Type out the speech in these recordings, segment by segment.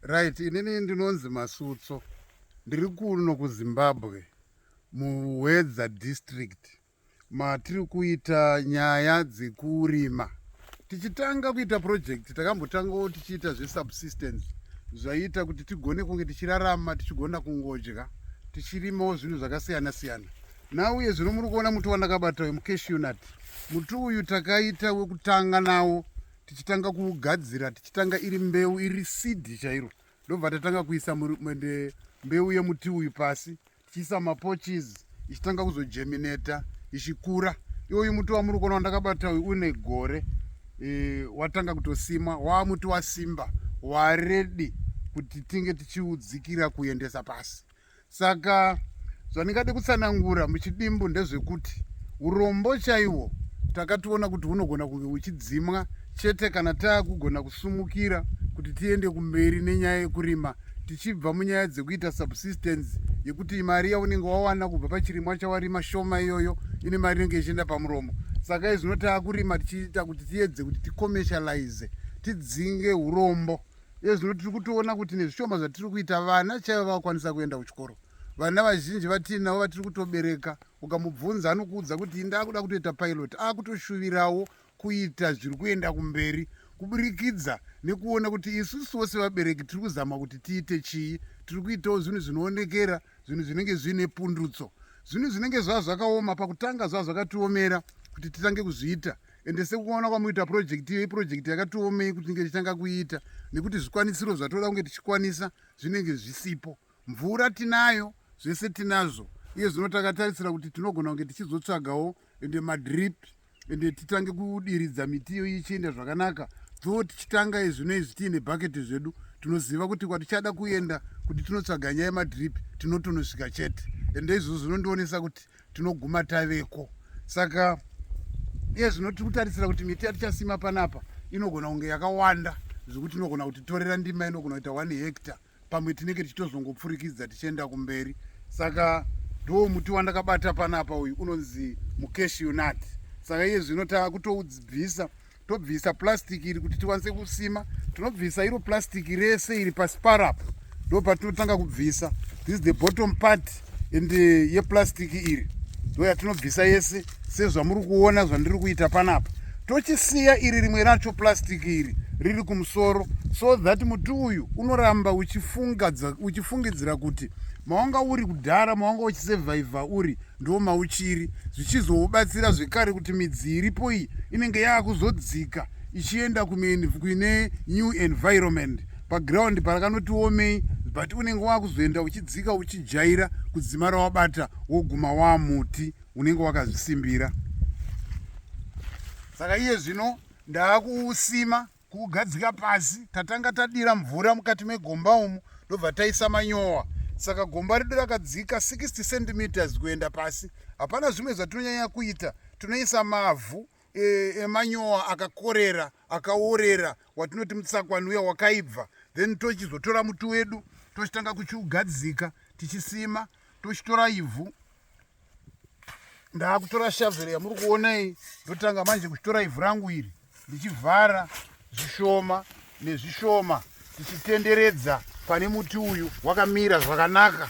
Right, inini ndinonzi Masutso. Ndiri kuno kuZimbabwe muHwedza district matiri kuita nyaya dzekurima. Tichitanga kuita project takambotangawo tichiita zvesubsistence zvaiita kuti tigone kunge tichirarama tichigona kungodya tichirimawo zvinhu zvakasiyana siyana. Now uye zvino muri kuona muti wandakabata uyu mucashew nut. Muti uyu takaita wekutanga nawo tichitanga kugadzira tichitanga iri mbeu iri seed chairo ndobva tatanga kuisa mende mbeu yemuti uyu pasi tichiisa mapoches ichitanga kuzojemineta ichikura iwoyu muti wamuri kuona wandakabata uyu une gore e, watanga kutosimwa waamuti wasimba waredi kuti tinge tichiudzikira kuendesa pasi saka zvandingade kutsanangura muchidimbu ndezvekuti urombo chaiwo takationa kuti hunogona kunge huchidzimwa chete kana taakugona kusumukira kuti tiende kumberi nenyaya yekurima tichibva munyaya dzekuita subsistence yekuti mari yaunenge wawana kubva pachirimwa chawarima shoma iyoyo ine mari inenge ichienda pamuromo saka izvino taakurima tichiita kuti tiyedze kuti ticommercialize tidzinge urombo iye zvino tiri kutoona kuti nezvishoma zvatiri kuita vana chaivo vakwanisa kuenda kuchikoro vana vazhinji vatiinavo vatiri kutobereka ukamubvunza anokuudza kuti inde akuda kutoita pilot akutoshuvirawo kuita zviri kuenda kumberi kuburikidza nekuona kuti isusuwo sevabereki tiri kuzama kuti tiite chii tiri kuitawo zvinhu zvinoonekera zvinhu zvinenge zviine pundutso zvinhu zvinenge zvava zvakaoma pakutanga zvava zvakatiomera kuti titange kuzviita ende sekuona kwamuita project iyo iproject yakatiomei kuti tinge tichitanga kuiita nekuti zvikwanisiro zvatoda kunge tichikwanisa zvinenge zvisipo mvura tinayo zvese tinazvo iye zvino takatarisira kuti tinogona kunge tichizotsvagawo ende madrip ende titange kudiridza miti iyo ichienda zvakanaka dho tichitanga izvino izvi tiine bhaketi zvedu tinoziva kuti kwatichada kuenda kuti tinotsvaga nyaya yemadrip tinotonosvika chete ende izvozvo zvinondionesa kuti tinoguma taveko saka iye zvino tiri kutarisira kuti miti yatichasima panapa inogona kunge yakawanda zvekuti inogona kuti torera ndima inogona kuita one hecta pamwe tinenge tichitozongopfurikidza tichienda kumberi saka ndoo muti wandakabata panapa uyu unonzi mukeshionat saka iye zvino takutobvisa tobvisa plastic iri kuti tikwanise kusima tinobvisa iro plastic rese iri pasi parapo ndo patinotanga kubvisa this is the bottom part and eh, yeplastic iri ndo yatinobvisa yese sezvamuri kuona zvandiri kuita panapa tochisiya iri rimwe racho plastic iri riri kumusoro so that muti uyu unoramba uchifungidzira kuti mawanga uri kudhara mawanga uchisevhaivha uri ndo mauchiri zvichizobatsira zvekare kuti midzi iripo iyi inenge yaakuzodzika ichienda kuine new environment paground parakanoti womei but unenge waakuzoenda uchidzika uchijaira kudzima rawabata woguma waamuti unenge wakazvisimbira saka iye zvino ndaakuusima kugadzika pasi tatanga tadira mvura mukati megomba umu ndobva taisa manyowa saka gomba redu rakadzika 60 centimeters kuenda pasi hapana zvimwe zvatinonyanya kuita tinoisa mavhu e, emanyowa e, akakorera akaorera watinoti mutsakwa nuya wakaibva then tochizotora muti wedu tochitanga kuchiugadzika tichisima tochitora ivhu ndaakutora shavhero yamuri kuona iyi ndotanga manje kuchitora ivhu rangu iri ndichivhara zvishoma nezvishoma tichitenderedza pane muti uyu wakamira zvakanaka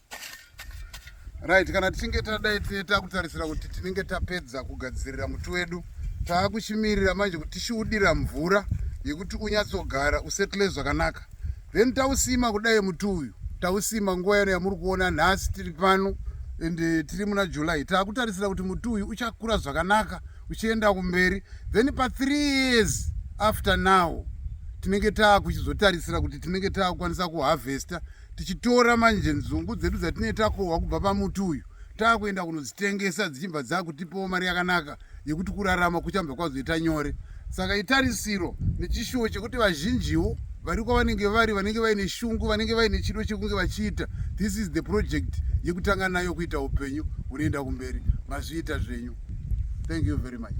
right kana tichinge tadai takutarisira kuti tinenge tapedza kugadzirira muti wedu taakuchimirira manje kuti tichiudira mvura yekuti unyatsogara usettle zvakanaka then tausima kudai muti uyu tausima nguva yano yamuri kuona nhasi tiri pano and eh, tiri muna july taakutarisira kuti muti uyu uchakura zvakanaka uchienda kumberi then pathree years after now tinenge taakuchizotarisira kuti tinenge taakukwanisa kuharvesta tichitora manje nzungu dzedu dzatinee takohwa kubva pamuti uyu taakuenda kunodzitengesa dzichibva dzakutipawo mari yakanaka yekuti kurarama kuchambva kwazoita nyore saka itarisiro nechishuwo chekuti vazhinjiwo vari kwavanenge vari vanenge vaine shungu vanenge vaine chido chekunge vachiita this is the project yekutanga nayo kuita upenyu hunoenda kumberi mazviita zvenyu thank you very much